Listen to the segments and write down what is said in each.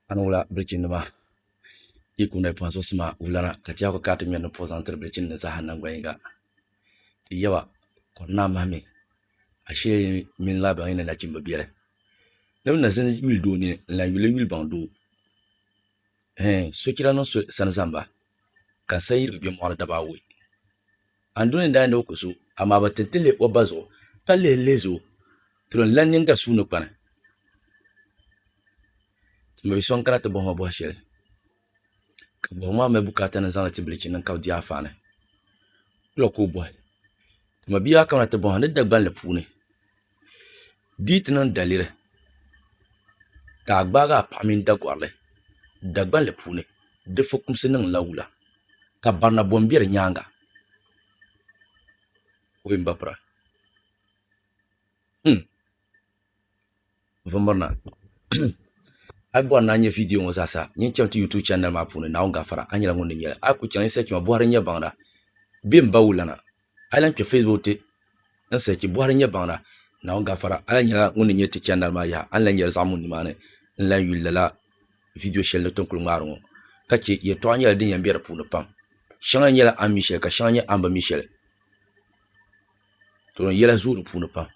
Ani wula bilichini nima yi kuli noli pɔhim so sima wulana ka ti yaa kuli kana ti ŋmɛri ni puhi zaŋ tiri bilichini ni zaaha nangban yiŋga ti yaba kɔri naa mahi mi ashe yi mini lala baŋ yi ni nachimba beli ni bi na zini yuli doo nini n lan yuli yuli baŋ doo hee sochira niŋ so sani zamba ka n sa yirigi bɛ mɔɣu ni daba awɔi. Andoni daa ni o ku so, amaa bi ti ti li o ba zuɣu, ka lihi lihi zo tiri n lan nyin ga suu ni kpani. Ti mi bi so n-kana ti bɔhi ma bɔhi shɛli, ka bɔhigu maa mali bukaata ni n zaŋ li ti bilichini din kabi diaafaani. Wula ka o bɔhi? Ti mi bia maa kamina ti bɔhi a ni Dagbanli puuni. Di yi ti niŋ daliri ka a gbaagi a paɣa mini Dagɔrili Dagbanli puuni di fukumsi niŋla wula, ka barina bom be di nyaaŋa? O bi mba bira. Hum! N bi mirina. A yi bɔri ni a nya viidiyo ŋɔ zaasa, nyin chaŋ ti YouTube chanɛli maa puuni, Naawuni Gafara, a nyɛla ŋun ni nya li. A yi ku chaŋ, yi said chima bɔhiri n-nyɛ baŋda bee m-ba wula na? A yi lahi kpɛ Facebook ti n sɛchi Buhari nyɛ baŋda, Naawuni gafara, a lahi nyɛla ŋun ni nyɛ ti chɛndali maa yaha, a ni lahi nyɛri zaɣimun nimaani n lahi yuli lala vidiyo shɛli ni ti ni kuli ŋmaari ŋɔ. Ka chɛ yɛtɔɣa nyɛla din yɛn be di puuni pam. Shɛŋa nyɛla a ni mi shɛli ka shɛŋa nyɛ a ni bi mi shɛli. To din yɛla zooi di puuni pam.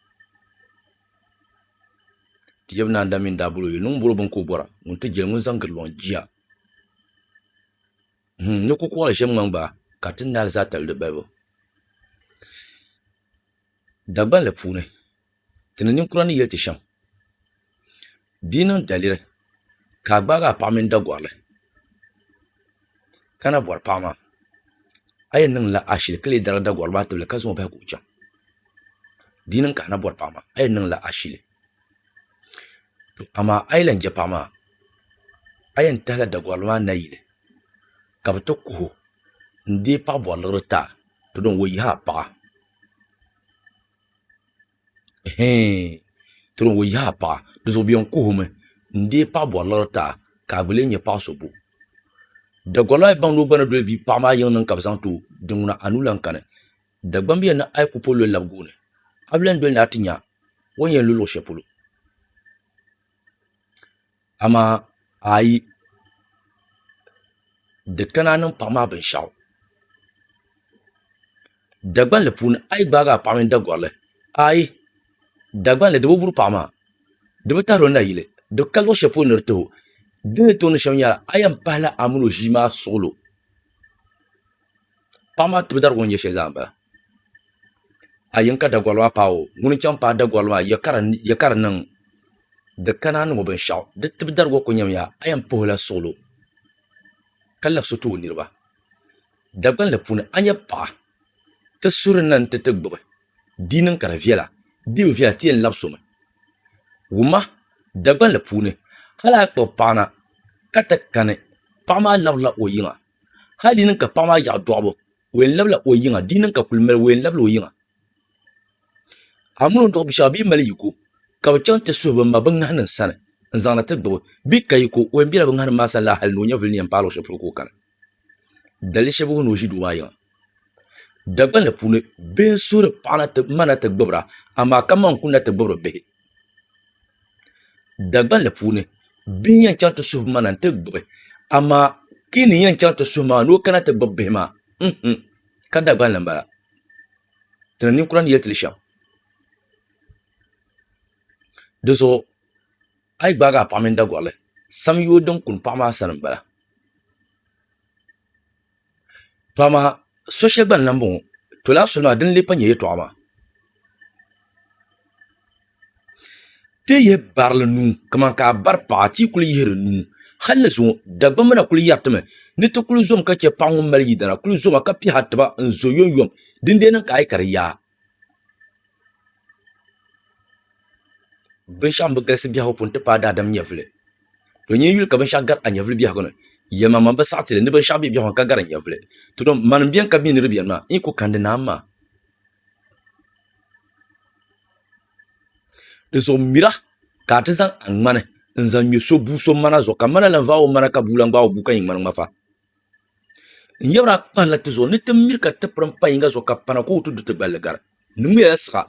Ti yɛbu naa n-daa mi n-daa bol o yuli ni ŋun bol o bini ka o bɔra, ŋun ti jɛli ŋun zaŋ giri lɔŋ jia. Ni ku kɔɣili shɛm ŋman gba ka ti naai li zaa tali di balibu. Dagbanli puuni, ti ni ninkura ni yɛli ti shɛm, di yi niŋ daliri ka a gbaagi a paɣa mini Dagɔrili ka na bɔri paɣa maa, a yɛn niŋla ashili ka leei darigi Dagɔrili maa tibili ka zaŋ o bahi ka o chaŋ. Di yi niŋ ka a na bɔri paɣa maa, a yɛn niŋla ashili. amaa a yi lahi je paɣa maa a yɛn tahila Dagɔrili maa nayili ka bɛ ti kuhi o n-deei paɣ' bɔriligiri ti a to din o yihi a paɣa ɛɛn to din o yihi a paɣa di zuɣu bɛ yɛn kuhi o mi n-deei paɣ' bɔriligiri ti a ka a gba leei n-nyɛ paɣ' so bo Dagɔrili maa yi baŋ ni o gba ni doli bia paɣ' maa yiŋ niŋ ka bɛ zaŋ ti o din ŋuna a nuu lahi kani Dagbamb yɛn ni a yi ku po loli lab gooni, a bi lan doli ni a ti nya o ni yɛn lu luɣ shɛli polo. Amaa a yi di kana niŋ paɣ maa binshɛɣu, Dagbanli puuni a yi gbaag a paɣ mini Dagɔrili, aai! Dagbanli di bi buri paɣ maa, di bi tahir o nayili, di ka luɣ shɛli polo ni di ti o. Di ni tooi niŋ shɛm nyɛla, a yɛn pahila a min o ʒii maa suɣilo. Paɣa maa tibu dariga o ni yɛ shɛli zaa n bala a yɛn ka dagoli maa paagi o ŋuni n chɛŋ paai dagoli maa yɛ ka di niŋ di kana niŋɔ binshaɣu di tibu dariga ku nyɛmiya a yɛn puhula suɣulo ka labisi o tooi niraba Dagban li puuni a ni nyɛ paɣa ti suri na ni ti ti gbubi di niŋ ka di viɛla di bi viɛla ti yɛn labi somi wumma dagban li puuni hali a kpuɣi paɣa na ka ti kani paɣa maa labirila o yiŋa hali di niŋ ka paɣa maa yaɣi dɔɣibu o yɛn labila o yiŋa di niŋ ka kuli mali o yɛn labila o yiŋa amun o ni dɔɣi binshɛɣu bee mali yiko ka bi chaŋ ti suhi bin ma bin ŋahi nim sani n zaŋ na ti gbubi bee ka yiko o yɛn bɛla bin ŋahi nim maa sani la hali ni o nyɛvuli ni yɛn paai luɣi shɛli polo ka o kani dalili shɛli bɛ bɛ ni o ʒi doo maa yiŋa Dagbanli puuni bihi n suhuri paɣa na ti ma na ti gbubira amaa ka ma n kuli na ti gbubiri bihi Dagbanli puuni bihi n yɛn chaŋ ti suhu mana n ti gbubi amaa ti ni yɛn chaŋ ti suhu maa ni o kana ti gbubi bihi maa ka dagbanli n bala ti ni ninkura ni yɛli ti li shɛm di zuɣu a yi gbaagi a paɣa mini Dagorili sam yoogi din kuni paɣa maa sani n bala to amaa so shɛli gba n lahi boŋo to laa soli maa din lee pa nyɛ yɛltɔɣa maa ti yi yɛn barili nuu kamani ka a bari paɣa ti yi kuli yihiri nuu hali ni zuŋo dagbamb na kuli yɛritimi ni ti kuli zom ka chɛ paɣa ŋun mali yidana kuli zoma ka piɛha tiba n zo yomyom dindee niŋ ka a yɛ ka di yaa Binshaɣu n bi galisi biɛhagu puuni n ti paai daadam nyɛvuli to nyɛ yuli ka binshaɣu gari a nyɛvuli biɛhagu ni yɛlimaŋli man bi saɣi tili ni binshaɣu bɛ biɛhagu ni ka gari n nyɛvuli mani n biɛni ka bi mi ni di biɛni maa n yi ku kandi naa maa dizuɣu mira ka a ti zaŋ a ŋmani n zaŋ ŋmɛ so bua so ŋmana zuɣu ka ŋmana lan vaai o ŋmana ka bua lan gbaai o bua ka nyɛ ŋmani ŋmafa N yabra a kpahila ti zuɣu ni ti miri ka ti pirim pa yinga zuɣu ka pana ka o ti du ti gballi gari. N ni ŋmɛya siɣa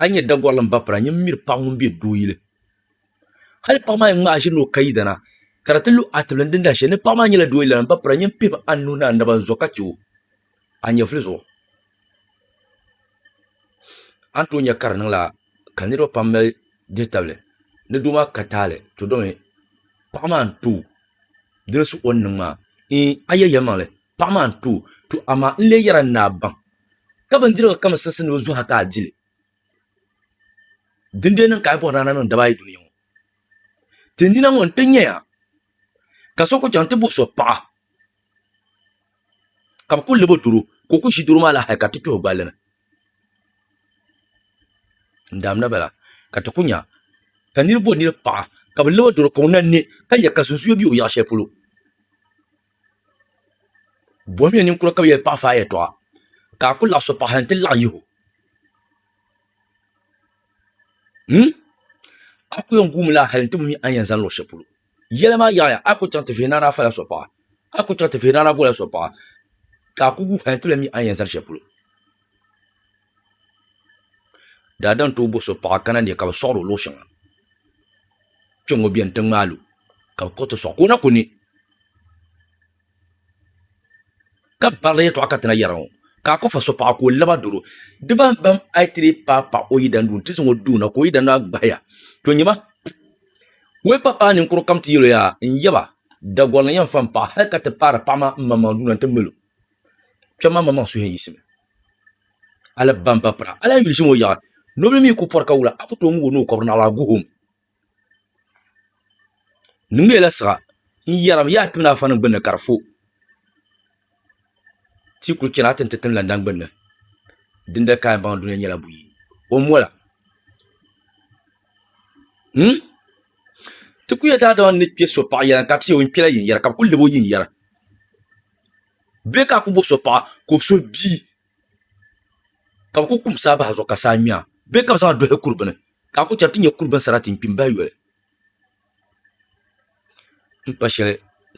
a nyɛ Dagɔrili n ba pira nyin miri paɣa ŋun be doo yili. Hali paɣa maa yɛn ŋmaai ʒiri ni o ka yidana ka di ti lu a tibili n din dahi shɛli ni paɣa maa nyɛla doo yilana n ba pira nyin pihim a nuhi ni a naba n zo ka chɛ o a nyɛvuli zuɣu. A ni tooi nya ka di niŋla ka niriba pam mali dihi tabili ni doo maa ka taali to domi paɣa maa n tooi dolisi o ni niŋ maa iin a yɛli yɛlimaŋli paɣa maa n too to amaa n lee yɛra n ni a baŋ ka bindirigu kam siɣisi ni o zuɣu ha ka a dili din dee niŋ ka a yi bɔhiri a ni a niŋ daba ayi dunia ŋɔ ti nina ŋɔ n ti nya ya ka so kuli chaŋ ti bɔhi so paɣa ka bɛ kuli lab o doro ka o kuli ʒi doro maa la hali ka ti tuhi o gballi ni n damda bala ka ti ku nya ka niraba bɔ niraba paɣa ka bi loo doro kɔŋ na ni ka nyɛ ka sunsuyo bɛ o yaɣa shɛli polo bohammiya ninkura ka bi yɛli paɣa fai yɛltɔɣa ka a ku laɣam so paɣa n ti laɣam yiho a ku yɛn guumi laa hali n ti bi mi a ni yɛn zaŋ luɣu shɛli polo Yɛli maa yaɣiya, a ku chaŋ ti vihina daa fala so paɣa, a ku chaŋ ti vihina daa bola so paɣa, ka a ku gu hal ti lahi mi a ni yɛn zali shɛli polo. Daadam tooi bo so paɣa kana ni ka bɛ sɔɣir o luɣ shɛŋa. Kpɛŋŋo beni ti ŋmaal o, ka bɛ kpuɣi ti sɔɣ ka o na ku ni. ka barila yɛtɔɣa ka ti na yɛra ŋɔ, ka a kɔfa so paɣa ka o laba doro, di bahi bam a yi ti dii paai paɣa o yidana duu nti zaŋ o duuna ka o yidana maa gbahi ya, to nyɛ ma wee pa paai ninkur kam ti yɛl o yaa n-yaba, Dagɔri ni yɛn fa m-paɣa hal ka ti paari paɣa maa m-maŋmaŋ duuna nti mal o, kpɛma maa maŋmaŋ suhuyini yiɣisimi a la bamba pira, a lahi yuli ʒim o yaɣa, nobili mi ku pɔri ka wula, a ku tooi ŋub o ni o kɔbiri naɣila a guh o mi. Di ŋmɛrila siɣa n yɛrim yaha ti mini afa nim gbunni ka di fo tia ku chɛna ti ni ti tim landa gbunni din dali kaaya baŋ duli nyɛla buyi o mola ti ku nyɛ daadama ni kpɛ so paɣa yɛla ka ti yɛ o ni kpɛla yiŋ yɛra ka bi ku lab o yiŋ yɛra bee ka a ku bo so paɣa ka o so bia ka bi ku kum saa bahi zuɣu ka saa ŋmɛ a bee ka bi zaŋ a dohi kuri bini ka a ku chɛri ti ni nyɛ kuri bini sarati n kpi n bahi yoli n pa shɛli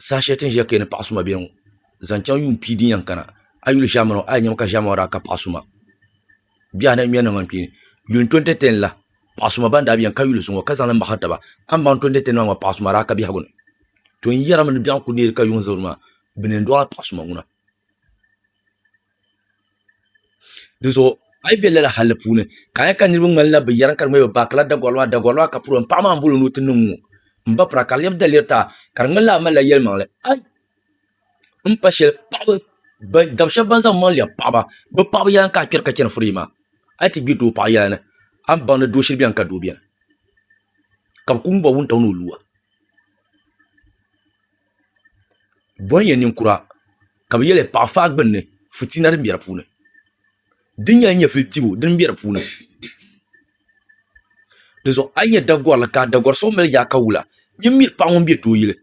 saha shɛli ti ni ʒiya ka yɛ ni paɣa suma biɛni ŋo zaŋ chɛŋ yuun pia din yɛn kana a yi yuli ʒaamani ŋo a ni nyɛmi ka ʒaamani ŋo daa ka paɣa suma bihi anahi n ŋmɛri niŋ ŋani kpeeni yuun to n tiɛhi tiɛhi n la paɣa suma ban daa biɛni ka yuli zuŋo ka zaŋli mahari taba a ni baŋ to ni tiɛhi tiɛhi niŋ maa paɣa suma a daa ka biɛhagu ni to n yɛrimi ni biɛɣu n ku neeri ka yuŋ zabiri maa bi ni yɛn dɔɣila paɣa suma ŋuna di zuɣu a yi bɛ lala halli puuni ka a yɛ ka niraba ŋmanila bi yɛri ka di ŋmanila bi baakila dagori maa dagori maa ka puro n paɣa maa n bolo ni o ti niŋ ŋo n ba pira ka di lɛbi daliri taa ka di ŋmanila a malila yɛlimaŋli ai n pa shɛli dab shab ban zaŋ bi maŋ lɛbi paɣaba bi paɣaba yɛla n ka a kpɛri ka chɛni furee maa a yi ti gbiri doo paɣa yɛla ni a ni baŋdi doo shili biɛni ka doo biɛni ka bi ku ŋuba wuntaŋ ni o luwa Boŋ ya ninkura ka bɛ yɛli paɣi faai gbunni fitina din be di puuni din nyɛla nyɛvili dibu din be di puuni dizuɣu a yi nya Dagorili ka Dagori so mali yaaka wula nyin mi paɣa ŋun be doo yili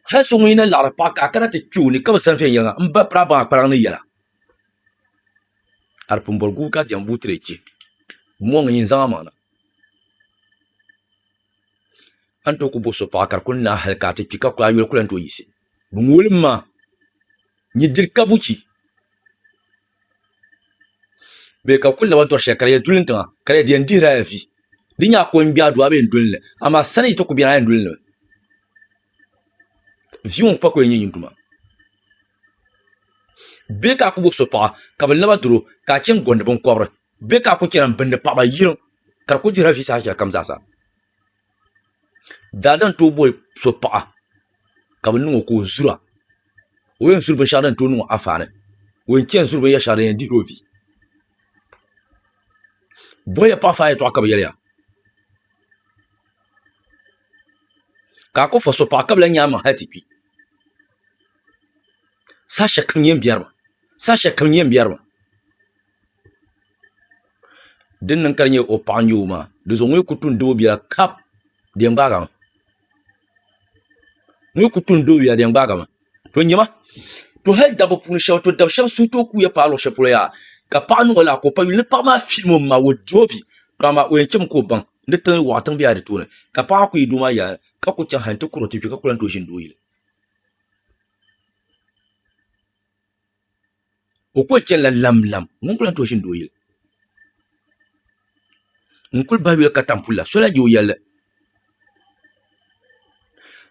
hali so ŋun yi na laɣiri paɣa ka a kana ti kpe o ni ka bi zani viɛnyɛliŋga m ba biraabaa kpalŋni yɛla a di pun boli gubu ka diɛm buutre chɛ mɔŋ nyin zaŋ a maŋ na. A ni tooi ku bo so paɣa ka di kuli naai hal ka a ti kpi ka kuli a yoli ku lan tooi yiɣisi. Bɛ ŋooli m ma nyi diri kabuchi bee ka kuli laba dɔri shɛli ka di yɛn duli n tiŋa ka di yɛn di yɛn dihiri a ya vi. Di nya a ko n-gbi a duu a bi yɛn doli li amaa sani yi ti ku beni a yɛn doli li mi. Vi ŋɔ kpa ku yɛn nyɛ nyin duma. Bɛ ka a ku gbubi so paɣa, ka bi laba duri o, ka a chɛŋ gondi biŋkɔbiri? Bɛ ka a ku chɛna m-bindi paɣiba yirim, ka di ku dihira viisa hal shɛlikam zaasa? Daa din tooi boli so paɣa, ka bi niŋ o ka o zura, o yɛn zuri binshɛɣu din tooi niŋ o anfaani, o yɛn chɛn zuri binyɛr shɛli din yɛn dihir o vi. Boliya paɣifa yɛtɔɣa ka bɛ yɛliya, ka a ku fa so paɣa ka bi lan nyaai maŋ hal ti kpi. saha shɛli kam n yɛn biɛri mi saha shɛli kam n yɛn biɛri mi din niŋ ka di nyɛ o paɣa n nyɛ o maa di zuɣu ŋɔ yi ku tuhi n doo bia kap di yɛn gbaagi mi ŋɔ yi ku tuhi n doo bia di yɛn gbaagi mi to nyɛ ma to hali dabba puuni shab to dab shab suhi tooi kuuya paai luɣu shɛli polo yaha ka paɣa niŋ o lala ka o pa yuli ni paɣa maa filim o maŋa o di o vi dama o yɛn chɛmi ka o baŋ ni tiŋ waɣa tiŋ biɛla di tooni ka paɣa maa ku yi doo maa yaɣali ka ku chɛŋ hali n ti kuri o ti kpɛ ka ku lahi tooi ʒini doo yili o kuli chɛnila lamlam ŋuni kuli lan tooi ʒiindi o yili n kuli bahi yuli katiŋ puli la so lahi je o yɛlli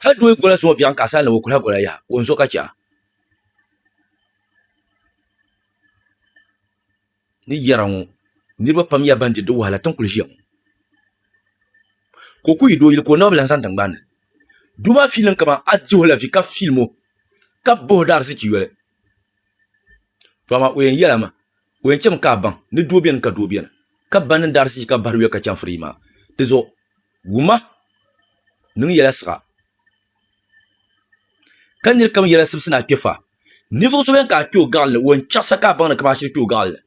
hali doo yi gola zuɣu biɛɣuni ka a sani lab o kuli ha gola yaha o ni zo ka chɛ a ni yɛra ŋɔ niriba pam nyɛla ban di di wahala tiŋ kuli ʒiya ŋɔ ka o kuli yi dooyili ka o naba bi lan zani tiŋgbani ni doo maa fiilimi kamani a dihi o la vi ka fiilim o ka bahi o di ariziki yoli to amaa o yɛn yɛla maa o yɛn chami ka a baŋ ni doo beni ka doo beni ka ba niŋdi ariziki ka bahiri yoli ka chaŋ firigi maa dizuɣu wuma niŋ yɛla siɣa ka niri kam yɛla sibisi ni a kpɛfa ninvuɣ so bɛn ka a kpɛ o gaɣili ni o yɛn chaɣisa ka a baŋ ni ka baa shiri kpɛ o gaɣili ni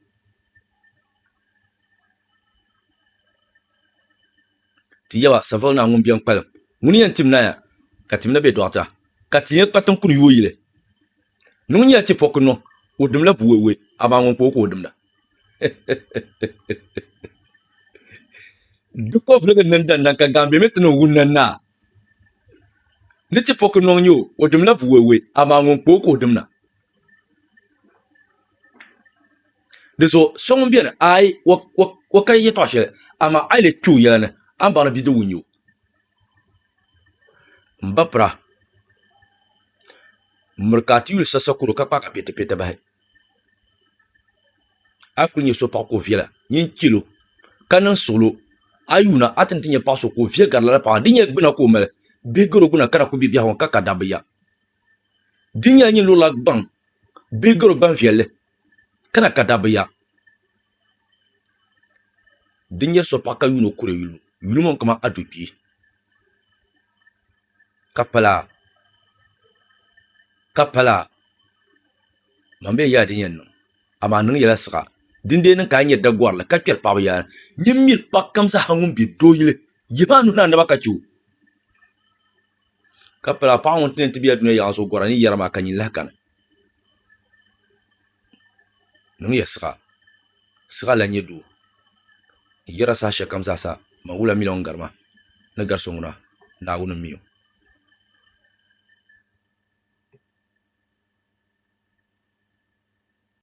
ti yaba Savile Naa ŋun bɛn kpalim ŋuni yɛn tim naya ka tim na bɛ dɔɣita ka ti nya kpatiŋ kuni yooi yili ni ŋun yɛn ti pɔki niŋ o dimla buwɛwɛ amaa ŋun kpa o ka o dimda di kɔvuligi niŋ dandaŋ ka gaambe mi ti niŋ wunna naa ni ti pɔki nɔŋ nyɛ o o dimla buwɛwɛ amaa ŋun kpa o ka o dimna di zuɣu so ŋun beni ayi o ka yɛtɔɣ shɛli amaa a yi le kpe o yɛla ni a ni baŋ ni bidib wun nyɛ o m ba pira miri ka a ti yuli sa sakoro ka kpaagi a piɛtɛpiɛtɛ bahi a yi kuli nyɛ so paɣa ka o viɛla nyin chɛlo ka niŋ suɣulo a yi yuli a ni ti nyɛ paɣa so ka o viɛ gari lala paɣa maa di nyɛla gbuna ka o mali bihi garo gbuna ka di ku bɛ biɛhagu ni ka ka dabba ya di nyɛla nyin lurila gbaŋ bihi garo gbaŋ viɛlli ka na ka dabba ya Di nyɛ so paɣa ka yuno kuli lu yuli ŋɔ kamani atupii ka pala man bee yaha din yɛn niŋ amaa a niŋ yɛla siɣa din dee niŋ ka a nyɛ dagorili ka kpɛri paɣaba yaha nyin miri paɣa kam zaa ŋun bɛ doo yili yihi maa nuhi ni a naba ka chɛ o ka pala paɣa ŋun tini ti bɛ dunia yaɣa zuɣu gɔra ni yɛri maa ka nyini lahi kani niŋya siɣa siɣa lahi nyɛ doo n yɛra saha shɛli kam zaa sa man wula mii lahi ŋun gari ma ni gari so ŋuna naawuni n miyo